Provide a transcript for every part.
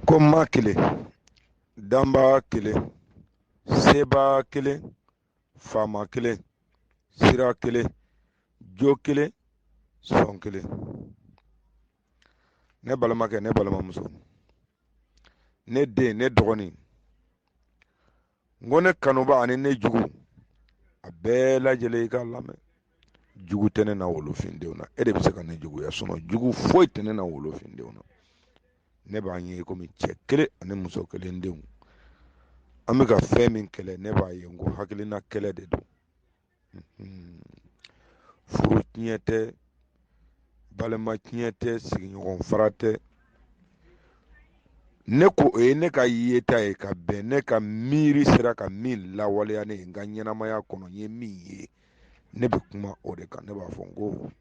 ko ma kelen danba kelen seba kelen faama kelen sira kelen jo kelen sɔn kelen ne balimakɛ ne balimamuso ne den ne dɔgɔnin n ko ne kanuba ani ne jugu a bɛɛ lajɛlen i k'a lamɛn jugu tɛ ne na wolofindenw na e de bɛ se ka ne juguya sinɔn jugu foyi tɛ ne na wolofindenw na ne b'a ye i komi cɛ kelen ani muso kelen denw an bɛ ka fɛn min kɛlɛ ne b'a ye n ko hakilina kɛlɛ de don furu tiɲɛ tɛ balima tiɲɛ tɛ sigiɲɔgɔn fara tɛ ne ko o ye ne ka yeta ye ka bɛn ne ka miiri sera ka min lawaleya ne ye n ka ɲɛnamaya kɔnɔ n ye min ye ne bɛ kuma o de kan ne b'a fɔ n ko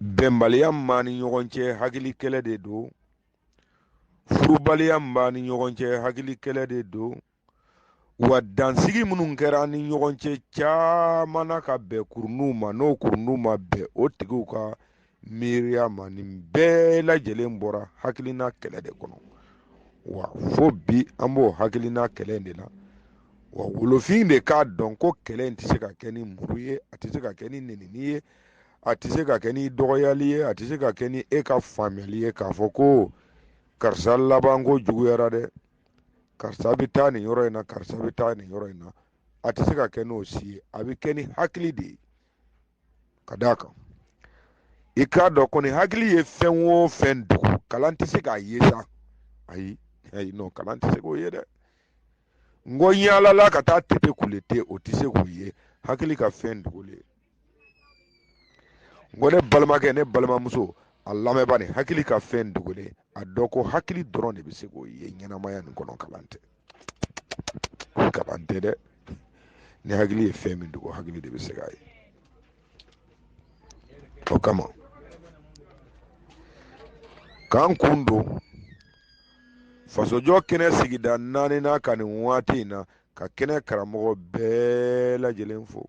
bɛnbaliya min b'an ni ɲɔgɔn cɛ hakili kɛlɛ de don furubaliya min b'an ni ɲɔgɔn cɛ hakili kɛlɛ de don wa dansigi minnu kɛra an ni ɲɔgɔn cɛ caman na ka bɛn kurunw ma n'o kurunw ma bɛn o tigiw ka miiriya ma nin bɛɛ lajɛlen bɔra hakilina kɛlɛ de kɔnɔ wa fo bi an b'o hakilina kɛlɛ de la wa wolofinden k'a dɔn ko kɛlɛ in tɛ se ka kɛ ni muru ye a tɛ se ka kɛ ni nenini ye a tɛ se ka kɛ ni dɔgɔyali ye a tɛ se ka kɛ ni e ka faamuyali ye k'a fɔ ko karisa labanko juguyara dɛ karisa bɛ taa nin yɔrɔ in na karisa bɛ taa nin yɔrɔ in na a tɛ se ka kɛ n'o si ye a bɛ kɛ ni hakili de ye ka d'a kan i k'a dɔn ko ni hakili ye fɛn o fɛn dogo kalan tɛ se k'a ye sa ayi ayi non kalan tɛ se k'o ye dɛ n ko yaalala ka taa tete kule te o tɛ se k'o ye hakili ka fɛn dogolen n ko ne balimakɛ ne balimamuso a lamɛnba nin hakili ka fɛn dogolen a dɔn ko hakili dɔrɔn de bɛ se k'o ye ɲɛnamaya nin kɔnɔ kalan tɛ kalan tɛ dɛ ni hakili ye fɛn min dogo hakili de bɛ se k'a ye o kama k'an kun don fasojɔ kɛnɛ sigida naaninan kan nin waati in na ka kɛnɛ karamɔgɔ bɛɛ lajɛlen fo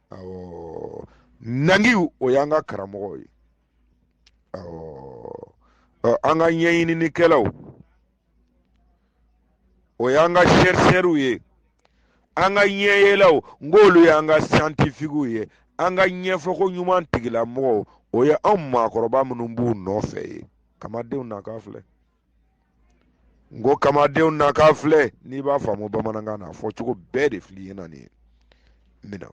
awɔ nangiw o y'an ka karamɔgɔw ye awɔ an ka ɲɛɲininikɛlaw o y'an ka sɛrisɛriw ye an ka ɲɛyelaw n k'olu y'an ka siyantifikiw ye an ka ɲɛfɔko ɲuman tigilamɔgɔw o ye anw maakɔrɔba minnu b'u nɔfɛ ye kamadenw na k'a filɛ n ko kamadenw na k'a filɛ n'i b'a faamu bamanankan n'a fɔcogo bɛɛ de fili ye na nin ye mina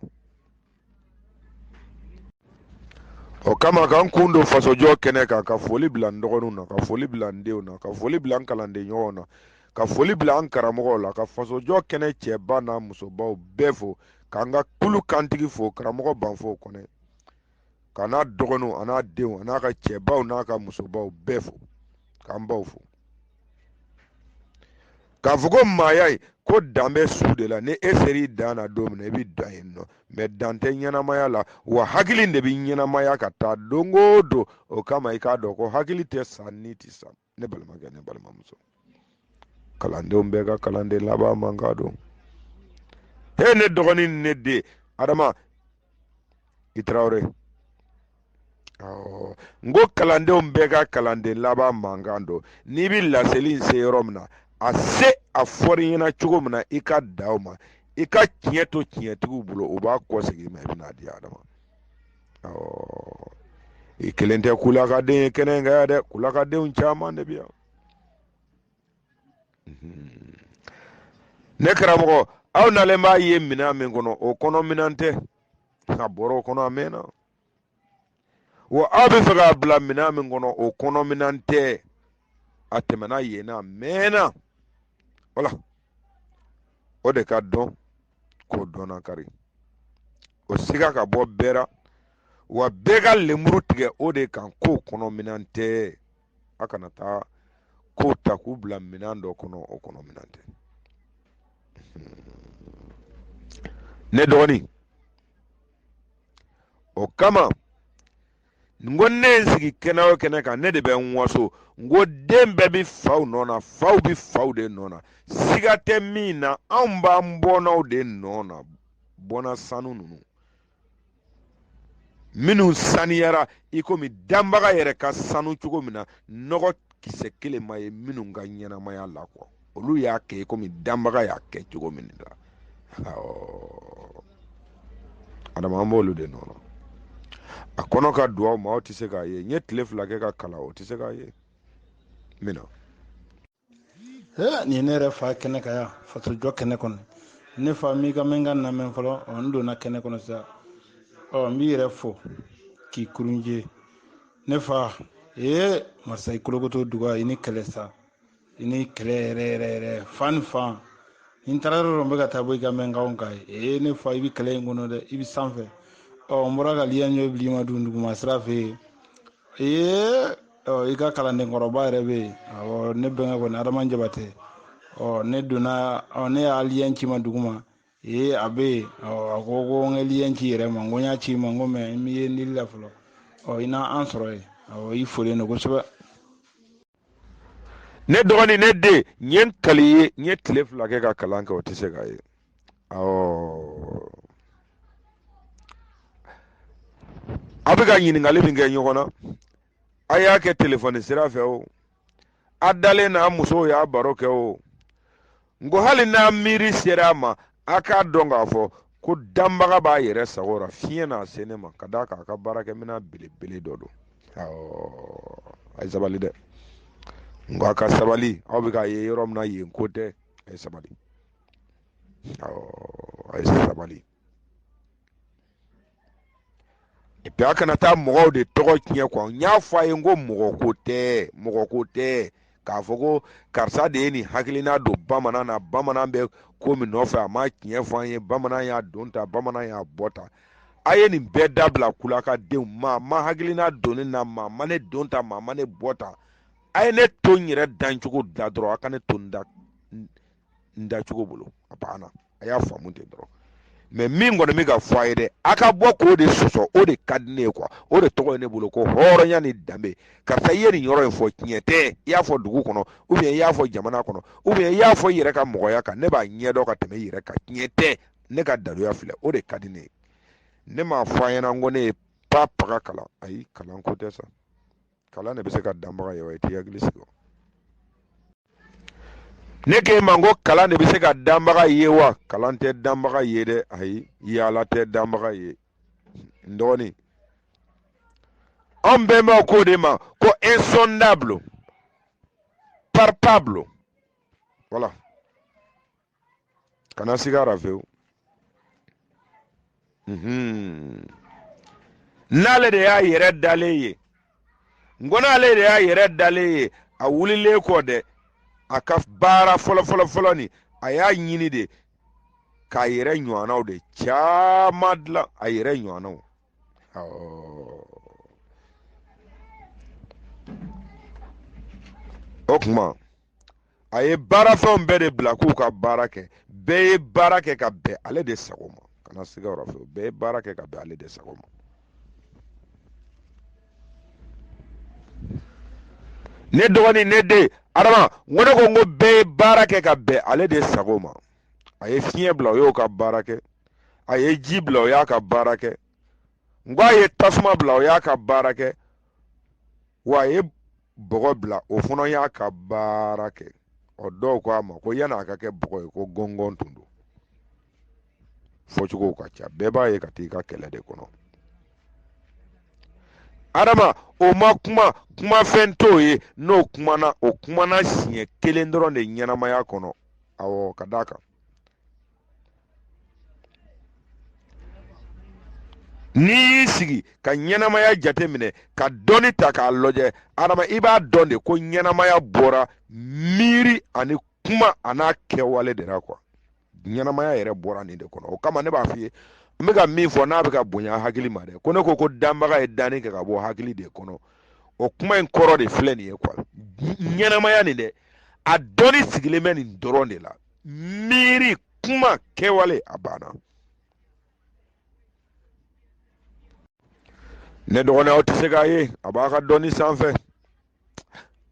o kama ka n kun don fasojɔ kɛnɛ kan ka foli bila n dɔgɔninw na ka foli bila n denw na ka foli bila n kalanden ɲɔgɔnw na ka foli bila an karamɔgɔw la ka fasojɔ kɛnɛ cɛba n'a musobaw bɛɛ fo k'an ka kulu kantigi fo karamɔgɔ banfo kɔnɛ ka n'a dɔgɔninw an'a denw an'a ka cɛbaw n'a ka musobaw bɛɛ fo k'an baw fo k'a fɔ ko maaya ye ko dan bɛ su de la ni e ser'i dan na don min na i bɛ dan yen nɔ mɛ dan tɛ ɲɛnamaya la wa hakili de bɛ ɲɛnamaya ka taa don o don o kama i k'a dɔn ko hakili tɛ sa ni tɛ sa ne balimakɛ ne balimamuso kalandenw bɛɛ ka kalanden laban mankan don he ne dɔgɔnin ne den adama i tarawele n ko kalandenw bɛɛ ka kalanden laban mankan don n'i bɛ laseli in se yɔrɔ min na a se a fɔr'i ɲɛ na cogo min na i k'a da u ma i ka tiɲɛ to tiɲɛtigiw bolo u b'a kɔsegin i ma i bɛna di adama i kelen tɛ kulakaden ye kɛnɛ in kan yan dɛ kulakadenw caman de bɛ yan mhm. ne karamɔgɔ aw nalen b'a ye minɛn min kɔnɔ o kɔnɔ minɛn tɛ a bɔra o kɔnɔ a mɛnna wa aw b'a fɛ k'a bila minɛn min kɔnɔ o kɔnɔ minɛn tɛ a tɛmɛna yen na a mɛnna wala o de ka dɔn k'o dɔnna kari o siga ka bɔ bɛɛ la wa bɛɛ ka lemuru tigɛ o de kan k'o kɔnɔ minɛn tɛ a kana taa k'o ta k'u bila minɛn dɔ kɔnɔ o kɔnɔ minɛn tɛ ne dɔgɔnin o kama n ko ne ye n sigi kɛnɛ o kɛnɛ kan ne de bɛ n waso n ko den bɛɛ bɛ faw nɔ na faw bɛ faw de nɔ na siga tɛ min na anw b'an bɔnnaw de nɔ na bɔnna sanu ninnu minnu saniyara i komi danbaga yɛrɛ ka sanu cogo min na nɔgɔ kisɛ kelen ma ye minnu ka ɲɛnamaya la kuwa olu y'a kɛ komi danbaga y'a kɛ cogo min na adama an b'olu de nɔ na a kɔnɔ ka dun aw ma aw tɛ se k'a ye n ye tile fila kɛ ka kalan o tɛ se k'a ye min na nin ye ne yɛrɛ fa kɛnɛ kan yan fasojɔ kɛnɛ kɔnɔ ne fa m'i kan mɛn ka namɛn fɔlɔ n donna kɛnɛ kɔnɔ sisan ɔ n b'i yɛrɛ fo k'i kurunje ne fa ee masa i kolokoto duga i ni kɛlɛ sa i ni kɛlɛ yɛrɛ yɛrɛ yɛrɛ fan fan ni taara yɔrɔ dɔ bɛ ka taa bɔ i ka mɛnkanw kan ee ne fa i bɛ kɛlɛ in kɔnɔ dɛ i bɛ sanfɛ ɔ n bɔra ka liya ɲɛ bili ma dun duguma sira fɛ yen ee ɔ i ka kalanden kɔrɔba yɛrɛ bɛ yen awɔ ne bɛnkɛ kɔni adama jabatɛ ɔ ne donna ɔ ne y'a lien ci ma duguma ee a bɛ yen ɔ a ko ko n ka lien ci yɛrɛ ma n ko n y'a ci ma n ko mɛ n b'i ye n dili la fɔlɔ ɔ i n'an sɔrɔ yen awɔ i folen don kosɛbɛ ne dɔgɔnin ne de n ye n kali ye n ye tile fila kɛ ka kalan kɛ o tɛ se k'a ye awɔ a bɛ ka ɲininkali min kɛ ɲɔgɔn na a y'a kɛ telefɔni sira fɛ o a dalen n'a musow y'a baro kɛ o n ko hali n'a miiri sera a ma a k'a dɔn k'a fɔ ko danbaga b'a yɛrɛ sago ra fiɲɛ n'a se ne ma ka d'a kan a ka baarakɛminɛn belebele dɔ don a ye sabali dɛ n ko a ka sabali aw bɛ k'a ye yɔrɔ min na yen ko tɛ a ye sabali a ye sabali epi a kana taa mɔgɔw de tɔgɔ tiɲɛ kuwa n y'a fɔ a ye n ko mɔgɔ ko tɛ mɔgɔ ko tɛ k'a fɔ ko karisa de ye nin hakilina don bamanan na bamanan bɛ ko min nɔfɛ a ma tiɲɛ fɔ an ye bamanan y'a don ta bamanan y'a bɔ ta a ye nin bɛɛ dabila kulaka denw maa ma hakilina don ne na maa ma ne don ta maa ma ne bɔ ta a ye ne to n yɛrɛ dancogo la dɔrɔn a ka ne to n da n dacogo bolo a banna a y'a faamu ten dɔrɔn mɛ min kɔni bɛ ka fɔ a ye dɛ a ka bɔ k'o de sɔsɔ o de ka di ne ye kuwa o de tɔgɔ ye ne bolo ko hɔrɔnya ni danbe karisa i ye nin yɔrɔ in fɔ tiɲɛ tɛ i y'a fɔ dugu kɔnɔ ubiyɛn i y'a fɔ jamana kɔnɔ ubiyɛn i y'a fɔ i yɛrɛ ka mɔgɔya kan ne b'a ɲɛdɔn ka tɛmɛ i yɛrɛ kan tiɲɛ tɛ ne ka daluya filɛ o de ka di ne ye ne m'a fɔ a ɲɛna n ko ne ye danbaga kalan ayi kalan ko tɛ sa kalan de bɛ se ka danbaga ye wa i t'i hakili sigi ne k'e ma ko kalan de bɛ se ka danbaga ye wa kalan tɛ danbaga ye dɛ ayi yaala tɛ danbaga ye n dɔgɔnin an bɛnbaw k'o de ma ko insondable palpable voilà kana siga a ra fewu mhm. n'ale de y'a yɛrɛ dalen ye n ko n'ale de y'a yɛrɛ dalen ye a wulilen kɔ dɛ a ka baara fɔlɔfɔlɔfɔlɔ ni a y'a ɲini de k'a yɛrɛ ɲɔgɔnnaw de caman dilan a yɛrɛ ɲɔgɔnnaw o tuma a ye baara fɛnw bɛɛ de bila k'u ka baara kɛ bɛɛ ye baara kɛ ka bɛn ale de sago ma kana siga yɔrɔ fɛ bɛɛ ye baara kɛ ka bɛn ale de sago ma ne dɔgɔnin ne den adama n ko ne ko n ko bɛɛ ye baara kɛ ka bɛn ale de sago ma a ye fiɲɛ bila o y'a ka baara kɛ a ye ji bila o y'a ka baara kɛ n ko a ye tasuma bila o y'a ka baara kɛ wa a ye bɔgɔ bila o fana y'a ka baara kɛ ɔ dɔw ko a ma ko yann'a ka kɛ bɔgɔ ye ko gɔngɔn tun don fɔcogow ka ca bɛɛ b'a ye ka t'i ka kɛlɛ de kɔnɔ adama o ma kuma kumafɛn t'o ye n'o kumana o kumana siɲɛ kelen dɔrɔn de ɲɛnamaya kɔnɔ awɔ ka d'a kan n'i y'i sigi ka ɲɛnamaya jate minɛ ka dɔɔni ta k'a lajɛ adama i b'a dɔn de ko ɲɛnamaya bɔra miiri ani kuma an'a kɛwale de la kuwa ɲɛnamaya yɛrɛ bɔra nin de kɔnɔ o kama ne b'a f'i ye n bɛ ka min fɔ n'a bɛ ka bonya hakili ma dɛ ko ne ko ko danbaga ye danni kɛ ka bɔ hakili de kɔnɔ o kuma in kɔrɔ de filɛ nin ye kuwa ɲɛnamaya nin dɛ a dɔnni sigilen bɛ nin dɔrɔn de la miiri kuma kɛwale a banna ne dɔgɔnin aw tɛ se k'a ye a b'a ka dɔnni sanfɛ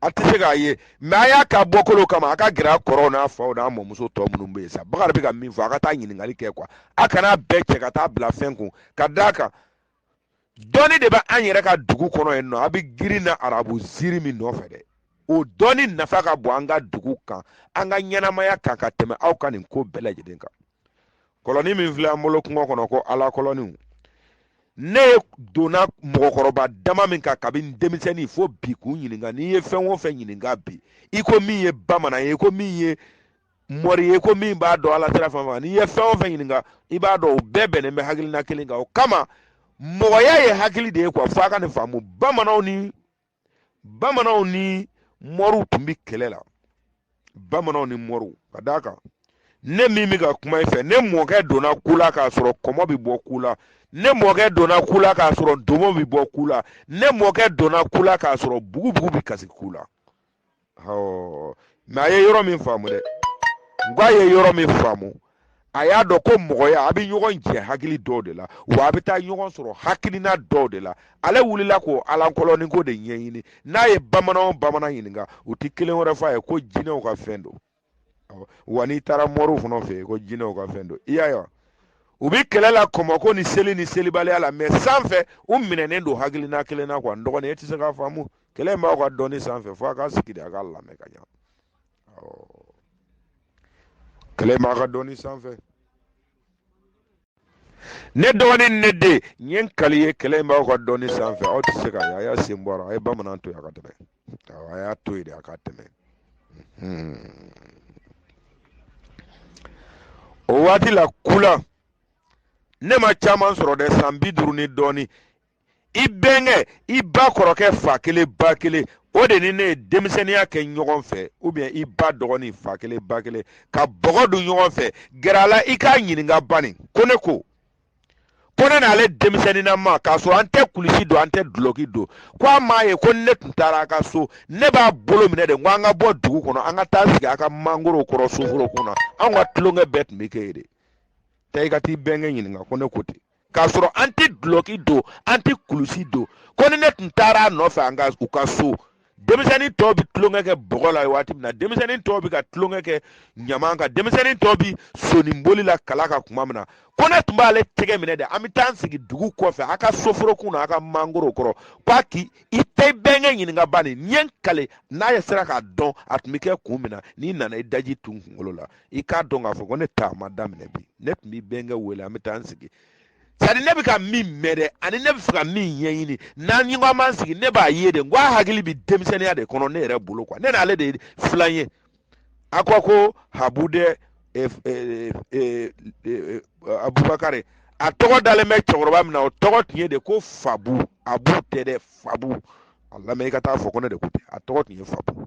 a tɛ se k'a ye mɛ a y'a ka bɔkolo kama a ka gɛrɛ a kɔrɔw n'a faw n'a mɔmuso tɔ minnu bɛ yen sa bakari bɛ ka min fɔ a ka taa ɲininkali kɛ kuwa a kana bɛɛ cɛ ka taa bila fɛn kun ka d'a kan dɔnni de bɛ an yɛrɛ ka dugu kɔnɔ yen nɔ a bɛ girin na arabu ziiri min nɔfɛ dɛ o dɔnni nafa ka bon an ka dugu kan an ka ɲɛnamaya kan ka tɛmɛ aw ka nin ko bɛɛ lajɛlen kan kɔlɔni min filɛ an bolo kungo kɔnɔ ko ala kɔlɔniw ne ye donna mɔgɔkɔrɔba dama min kan kabini denmisɛnnin fo bi k'u ɲininka n'i ye fɛn o fɛn ɲininka bi i ko min ye bamanan ye i ko min ye mɔri ye ko min b'a dɔn ala sira fan fɛ n'i ye fɛn o fɛn ɲininka i b'a dɔn o bɛɛ bɛnnen bɛ hakilina kelen kan o kama mɔgɔya ye hakili de ye kuwa fo a ka nin faamu bamananw ni bamananw ni mɔriw tun bɛ kɛlɛ la bamananw ni mɔriw ka d'a kan ne min bɛ ka kuma i fɛ ne mɔkɛ donna kula k'a sɔrɔ kɔmɔ bɛ bɔ kula ne mɔkɛ donna kula k'a sɔrɔ ntomo bɛ bɔ kula ne mɔkɛ donna kula k'a sɔrɔ bugubugu bɛ kasi kula mɛ a ye yɔrɔ min faamu dɛ n ko a ye yɔrɔ min faamu a y'a dɔn ko mɔgɔya a bɛ ɲɔgɔn jɛ hakili dɔw de la wa a bɛ taa ɲɔgɔn sɔrɔ hakilina dɔw de la ale wulila k'o alankɔlɔni ko de ɲɛɲini n'a ye bamanan o bamanan ɲininka u tɛ kelen wɛrɛ fɔ a ye ko jinɛw ka fɛn don wa n'i taara mɔriw fana fɛ yen ko jinɛw ka fɛn don i y'a ye wa u bɛ kɛlɛ la kɔmɔko ni seli ni selibaliya la mɛ sanfɛ u minɛnen don hakilina kelen na kuwa n dɔgɔnin e tɛ se k'a faamu kɛlɛ in b'aw ka dɔnni sanfɛ fo a ka sigi de a k'a lamɛn ka ɲa kɛlɛ in b'a ka dɔnni sanfɛ ne dɔgɔnin ne den n ye n kali ye kɛlɛ in b'aw ka dɔnni sanfɛ aw tɛ se ka a y'a sen bɔ a la a ye bamanan to yen a ka tɛmɛ a y'a to yen de a ka tɛmɛ hmm. o waati la kula ne ma caman sɔrɔ dɛ san bi duuru ni dɔɔni i bɛnkɛ i ba kɔrɔkɛ fa kelen ba kelen o de ni ne ye denmisɛnninya kɛ ɲɔgɔn fɛ ubiyɛn i ba dɔgɔnin fa kelen ba kelen ka bɔgɔ don ɲɔgɔn fɛ gɛrɛ a la i k'a ɲininka bani ko ne ko ko ne n'ale denmisɛnninama k'a sɔrɔ an tɛ kulusi don an tɛ dulɔki don ko a m'a ye ko ne tun taara a ka so ne b'a bolo minɛ de ko an ka bɔ dugu kɔnɔ an ka taa sigi a ka mangoro kɔrɔ soforo kɔnɔ anw ka tulonkɛ bɛɛ tun bɛ kɛ yen de taa i ka t'i bɛnkɛ ɲininka ko ne ko ten k'a sɔrɔ an tɛ dulɔki don an tɛ kulusi don ko ni ne tun taara a nɔfɛ an ka u ka so denmisɛnnin tɔw bɛ tulonkɛ kɛ bɔgɔ la waati min na denmisɛnnin tɔw bɛ ka tulonkɛ kɛ ɲaman kan denmisɛnnin tɔw bɛ soninboli la kala kan tuma min na ko ne tun b'ale tɛgɛ minɛ dɛ an bɛ taa an sigi dugu kɔfɛ a ka soforokun na a ka mangoro kɔrɔ ko a k'i i t'i bɛnkɛ ɲininka bani ɲɛ k'ale n'a yɛrɛ sera k'a dɔn a tun bɛ kɛ kun min na n'i nana i daji tu n kunkolo la i k'a dɔn k'a fɔ ko ne ta ma daminɛ bi ne tun b'i bɛnkɛ wele an bɛ taa an sigi sani ne bɛ ka min mɛn dɛ ani ne b'a fɛ ka min ɲɛɲini n'an ɲɔgɔn man sigi ne b'a ye de n ko a hakili bɛ denmisɛnninya de kɔnɔ ne yɛrɛ bolo kuwa ne n'ale de ye filan ye a ko ko habu dɛ eh, eh, eh, abubakari a tɔgɔ dalen bɛ cɛkɔrɔba min na o tɔgɔ tun ye de ko fabu abu tɛ dɛ fabu a lamɛn i ka t'a fɔ ko ne de ko ten a tɔgɔ tun ye fabu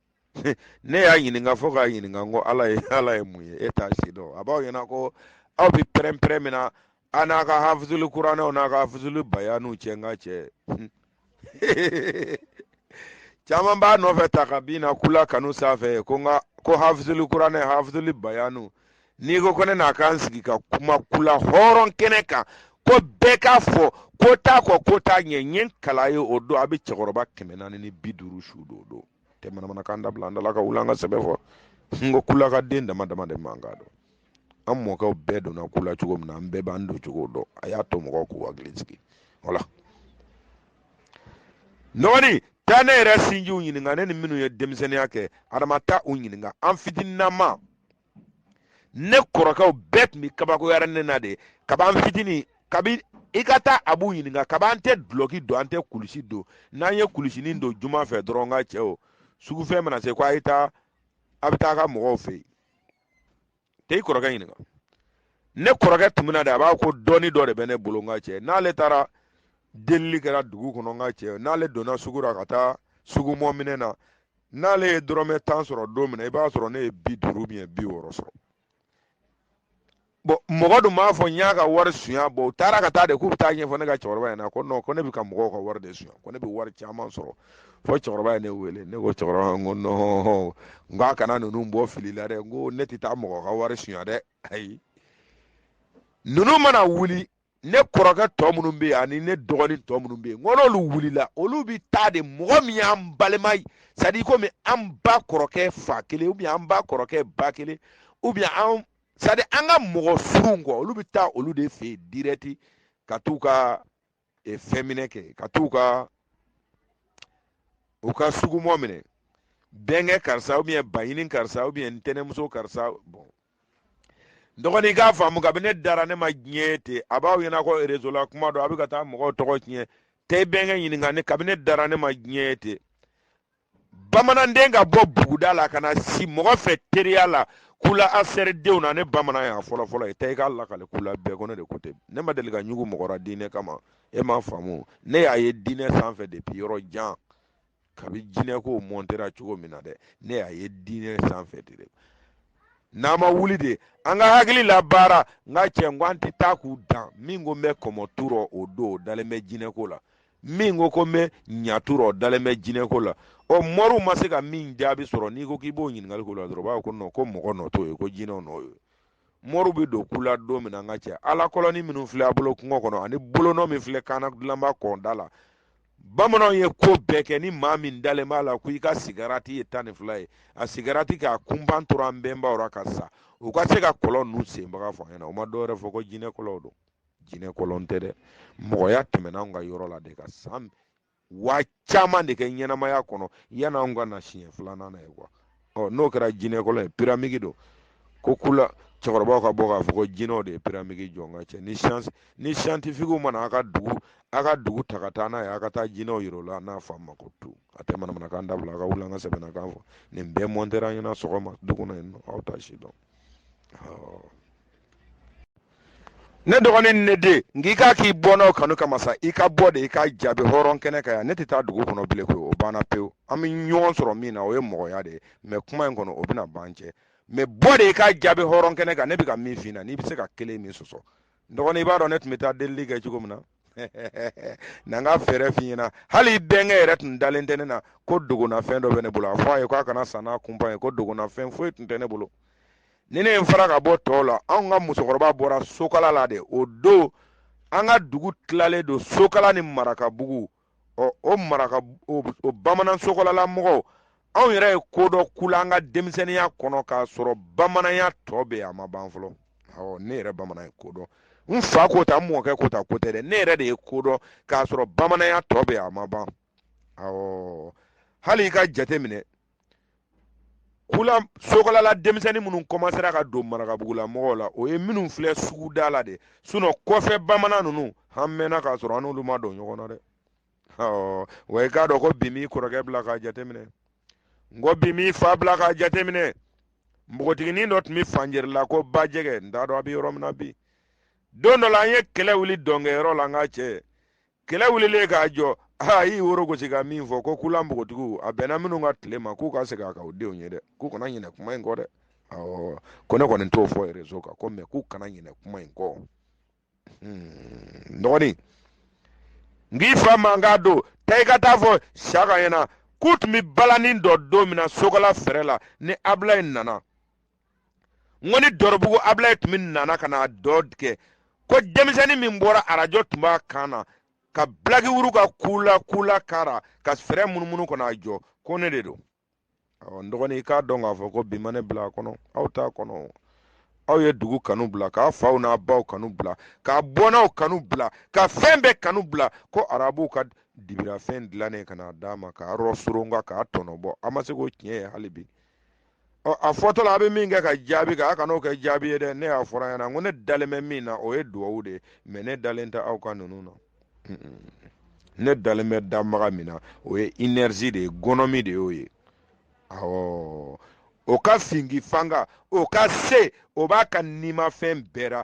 ne y'a ɲininka fo k'a ɲininka ko ala ye ala ye mun ye e t'a si dɔn a b'aw ɲɛna ko aw bɛ pɛrɛn-pɛrɛn min na a n'a ka hafuzuli kuranɛw n'a ka hafuzuli bayaniw cɛ n ka cɛ caman b'a nɔfɛ ta ka bin na kula kanu sanfɛ ko n ka ko hafuzuli kuranɛ hafuzuli bayaniw n'i ko ko ne n'a k'an sigi ka kuma kula hɔrɔn kɛnɛ kan ko bɛɛ k'a fɔ ko t'a kɔ ko t'a ɲɛ n ye n kali ye o don a bɛ cɛkɔrɔba kɛmɛ naani ni bi duuru su don o don tɛ manamanakan dabila an dala ka wuli an ka sɛbɛ fɔ n ko kula ka den dama dama de ma k'a dɔn an mɔkɛw bɛɛ donna kula cogo min na an bɛɛ b'an don cogo dɔn a y'a to mɔgɔw k'u hakili sigi wala n dɔgɔnin taa ne yɛrɛ sinjiw ɲininka ne ni minnu ye denmisɛnninya kɛ adama taa u ɲininka an fitininama ne kɔrɔkɛw bɛɛ tun bɛ kabakoya ne na de kaba n fitinin kabi i ka taa a b'u ɲininka kaba an tɛ dulɔki don an tɛ kulusi don n'an ye kulusinin don juma fɛ dɔrɔn n ka cɛ o sugufɛn mana se ko a ye taa a bɛ taa ka mɔgɔw fɛ yen tɛ i kɔrɔkɛ ɲininka ne kɔrɔkɛ tun bɛna de a b'a ko dɔɔni dɔ de bɛ ne bolo n ka cɛ n'ale taara delili kɛra dugu kɔnɔ n ka cɛ n'ale donna sugu la ka taa sugumɔ minɛ na n'ale ye dɔrɔmɛ tan sɔrɔ don min na i b'a sɔrɔ ne ye bi duuru ne ye bi wɔɔrɔ sɔrɔ bɔn mɔgɔ dun b'a fɔ n y'a ka wari sunya bɔn u taara ka taa de k'u bɛ t'a ɲɛfɔ ne ka cɛkɔrɔba ɲɛna ko nɔn ko ne bɛ ka mɔgɔw ka wari de sunya ko ne bɛ wari caman sɔrɔ fɔ cɛkɔrɔba ye ne wele ne ko cɛkɔrɔba n ko nɔn n k'a kana ninnu bɔ fili la dɛ n ko ne tɛ taa mɔgɔ ka wari sunya dɛ ayi ninnu mana wuli ne kɔrɔkɛ tɔ minnu bɛ yen ani ne dɔgɔnin tɔ minnu bɛ yen ko n'olu wulila olu bɛ taa de mɔgɔ min y'an balima ye sadi komi an ba kɔrɔkɛ fa kelen ubiyɛn an ba kɔrɔkɛ ba kelen ubiyɛn an sadi an ka mɔgɔ surun kɔ olu bɛ taa olu de fɛ yen dirɛti ka t'u ka e, fɛn minɛ kɛ ka t'u ka u ka sugumɔ minɛ bɛnkɛ karisa ubiyɛn baɲini karisa ubiyɛn ntɛnɛmuso karisa bɔn dɔgɔni i k'a faamu kabini ne dara ne ma diɲɛ ten a b'aw ɲɛna ko rezo la kuma don a bɛ ka taa mɔgɔw tɔgɔ tiɲɛ tɛ bɛnkɛ ɲininka ne kabini ne dara ne ma diɲɛ ten bamananden ka bɔ buguda la ka na si mɔgɔ fɛ teriya la kula asɛridenw na ne bamanan y'a fɔlɔ fɔlɔ ye tɛ i k'a lakale kula bɛɛ ko ne de ko ten ne ma deli ka ɲugu mɔgɔ la diinɛ kama e m'a faamu ne y'a ye diinɛ sanfɛ depuis yɔrɔ jan kabi jinɛko mɔntera cogo min na dɛ ne y'a ye diinɛ sanfɛ de dɛ n'an ma wuli de an ka hakili labaara n ka cɛ n ko an tɛ taa k'u dan min ko n bɛ kɔmɔ tu rɔ o don o dalen bɛ jinɛko la min ko ko n bɛ ɲa tu rɔ o dalen bɛ jinɛko la ɔ mɔriw ma se ka min jaabi sɔrɔ n'i ko k'i b'o ɲininkali k'o la dɔrɔn o b'a fɔ ko nɔn ko mɔgɔ nɔ t'o ye ko jinɛw nɔ y'o ye moriw bɛ don kula don min na n ka cɛ ala kɔlɔnin minnu filɛ an bolo kungo kɔnɔ ani bolonɔ min filɛ kaana dilanba kɔnda la bamananw ye ko bɛɛ kɛ ni maa min dalen b'a la ko i ka sigarati ye tan ni fila ye a sigarati k'a kunban tora an bɛnbaw ra ka sa u ka se ka kɔlɔn ninnu senbaga fɔ ɲɛna o ma dɔwɛrɛ fɔ ko jinɛ kɔlɔnw don jinɛ kɔlɔn tɛ dɛ mɔgɔya tɛmɛna anw ka yɔrɔ la de ka san wa caman de kɛ ɲɛnamaya kɔnɔ yanni anw ka na siɲɛ filanan na ye kuwa ɔ n'o kɛra jinɛkɔlɔn ye piramidi dun ko kula cɛkɔrɔbaw ka bɔ k'a fɔ ko jinɛw de ye piramidi jɔ n ka cɛ ni siyansi ni siyantifikiw mana a ka dugu a ka dugu ta ka taa n'a ye a ka taa jinɛw yira o la n'a fa ma ko tu a tɛ manamanakan dabila a ka wuli an ka sɛbɛnnakan fɔ nin bɛɛ mɔntera an ɲɛna sɔgɔma du kɔnɔ yen nɔn aw t'a si dɔn ne dɔgɔnin ni ne den nka i k'a k'i bɔnna kanu kama sa i ka bɔ de i ka jaabi hɔrɔn kɛnɛ kan yan ne tɛ taa dugu kɔnɔ bilen koyi o banna pewu an bɛ ɲɔgɔn sɔrɔ min na o ye mɔgɔya de ye mɛ kuma in kɔnɔ o bɛna ban cɛ mɛ bɔ de i ka jaabi hɔrɔn kɛnɛ kan ne bɛ ka min f'i na n'i bɛ se ka kelen min sɔsɔ dɔgɔnin i b'a dɔn ne tun bɛ taa delili kɛ cogo min na na n ka fɛɛrɛ f'i ɲɛna hali i bɛnkɛ yɛrɛ tun dalen tɛ ne na ko dogonafɛn dɔ bɛ ne bolo a fɔ a ye k'a kana sa n'a kunpa ye ko dogonafɛn foyi tun tɛ ne bolo ni ne ye n fara ka bɔ tɔw la anw ka musokɔrɔba bɔra sokala la de o don an ka dugu tilalen don sokala ni marakabugu ɔ o maraka o, o bamanan sokalala mɔgɔw anw yɛrɛ ye ko dɔ kula an ka denmisɛnninya kɔnɔ k'a sɔrɔ bamananya tɔ bɛ a ma ban fɔlɔ awɔ ne yɛrɛ bamanan ye ko dɔn n fa ko ta n mɔkɛ ko ta ko tɛ dɛ ne yɛrɛ de ye ko dɔn k'a sɔrɔ bamananya tɔ bɛ a ma ban awɔ hali i ka jate minɛ kula sokalala denmisɛnnin minnu kɔmasera ka don marakabugulamɔgɔw la o ye minnu filɛ suguda la de sinɔn kɔfɛ bamanan ninnu an mɛnna k'a sɔrɔ an n'olu ma don ɲɔgɔn na dɛ wa i k'a dɔn ko bi m'i kɔrɔkɛ bila k'a jateminɛ n ko bi m'i fa bila k'a jateminɛ npogotiginin dɔ tun bɛ fanjɛri la ko ba jɛgɛ n t'a dɔn a bɛ yɔrɔ min na bi don dɔ la an ye kɛlɛ wuli dɔnkɛyɔrɔ la n ka cɛ kɛlɛ wulilen k'a jɔ aa y'i woro gosi ka min fɔ ko kula npogotigiw a bɛnna minnu ka tile ma k'u ka segin a kan u denw ye dɛ k'u kana ɲinɛ kuma in kɔ dɛ awɔ ko ne kɔni t'o fɔ rezo kan ko mɛ k'u kana ɲinɛ kuma in kɔ hmm, dɔgɔnin n k'i fa man k'a don taa i ka taa fɔ siyaka ɲɛna k'u tun bɛ balani dɔ don min na sokala fɛrɛ la ni abulayi nana n ko ni dɔrɔbugu abulayi tun bɛ na ka na dɔn kɛ ko denmisɛnnin min bɔra arajo tun b'a kan na ka bilaki wuru ka kula kula kara ka fɛrɛ munumunu kɔnɔ a jɔ ko ne de don ɔ n dɔgɔnin i k'a dɔn k'a fɔ ko bi ma ne bila a kɔnɔ aw t'a kɔnɔ aw ye dugu kanu bila k'a faw n'a baw kanu bila k'a bɔnnaw kanu bila ka fɛn bɛɛ kanu bila ko arabuw ka dibirafɛn dilannen ka n'a d'a ma k'a yɔrɔ soronka k'a tɔnɔ bɔ a ma se k'o tiɲɛ ye hali bi a fɔtɔla a bɛ min kɛ ka jaabi kɛ a kan'o kɛ jaabi ye dɛ ne y'a fɔra ɲɛna ko ne dalen bɛ min na o ye duwawu de ye mɛ ne dalen tɛ aw ka ninnu na ne dalen bɛ danbaga min na o ye inɛrizi de ye gɔnɔmi de y'o ye awɔ o ka fingi fanga o ka se o b'a ka nimafɛn bɛɛ la